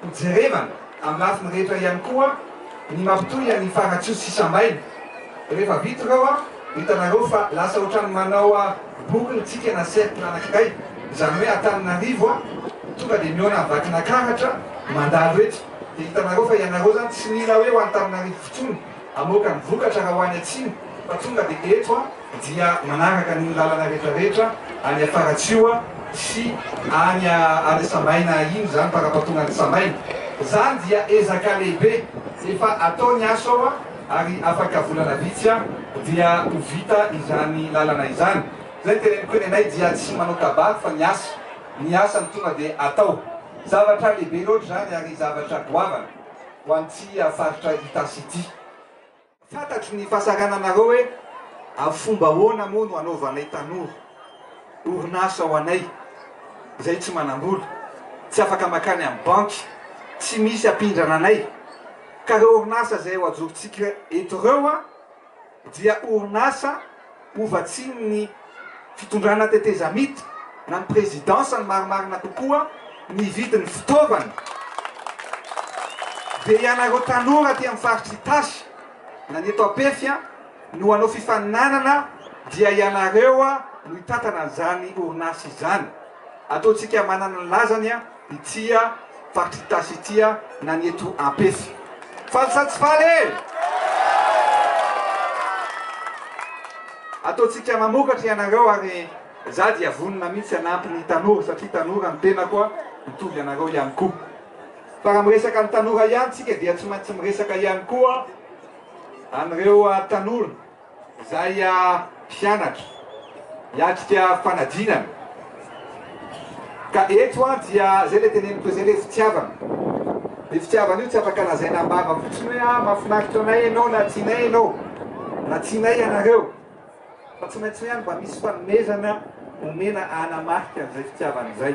Hojerevana amin'ny lafiny rehetra ihany koa ny mampitohy an'i Faratsiho sy Sambaina. Rehefa vita ireo, hitanareo fa lasa ohatran'ny manao boucle isika na cercle anankiray, izany hoe Antananarivo tonga dia mihaona Vakinakaratra mandalo eto. Dia hitanareo fa ianareo izany tsy mila hoe ho Antananarivo fotsony hamoaka ny vokatra raha ho any atsimo fa tonga dia eto. dia manaraka ny lalana rehetra rehetra any Afaratsiho sy any any Samaina iny zany farapatonga any Samaina zany dia ezaka lehibe efa atao ny asa ao ary afaka volana vitsy a dia ho vita izany lalana izany zay teneniko ny anay dia tsy manao kabary fa ny asa ny asa no tonga dia atao zavatra lehibe loatra zany ary zavatra goavana ho an'ity faritra Itasy ity. Fantatro ny fahasahirananareo hoe avy fomba ahoana moa no anaovanay tanora orinasa ho anay izay tsy manam-bola, tsy afaka makany amin'ny banky, tsy misy ampindrana anay. Ka ireo orinasa izay ho ajorontsika eto ireo dia orinasa. Ho vatsian'ny fitondrana tetezamita na ny prezidansa ny marimarina kokoa ny vidin'ny fitaovana dia ianareo tanora aty amin'ny faritry Itasy na ny eto Ampefy no hanao fifaninanana dia ianareo no hitantana an'izany orinasa izany. Ataontsika manana ny lazany. Tia faritry Itasy itia na ny eto Ampefy. Faly sa tsy faly e! Ataontsika mamokatra ianareo ary za dia vonona mihitsy hanampy ny tanora satria tanora ny tenako a, mitovy anareo ihany koa. Fa raha miresaka ny tanora ihany tsika dia tsy maintsy miresaka ihany koa an'ireo tanora. Izay mpianatra hiatrika fanadinana. Ka eto an dia izay ilay teneniko izay ilay fitiavana. Ny fitiavana io tsy afaka lazaina am-bava fotsiny hoe ah mahafinaritra anay ianao na tianay ianao na tianay ianareo. Fa tsy maintsy hoe any mba misy fanomezana omena hanamarika an'izay fitiavana izay.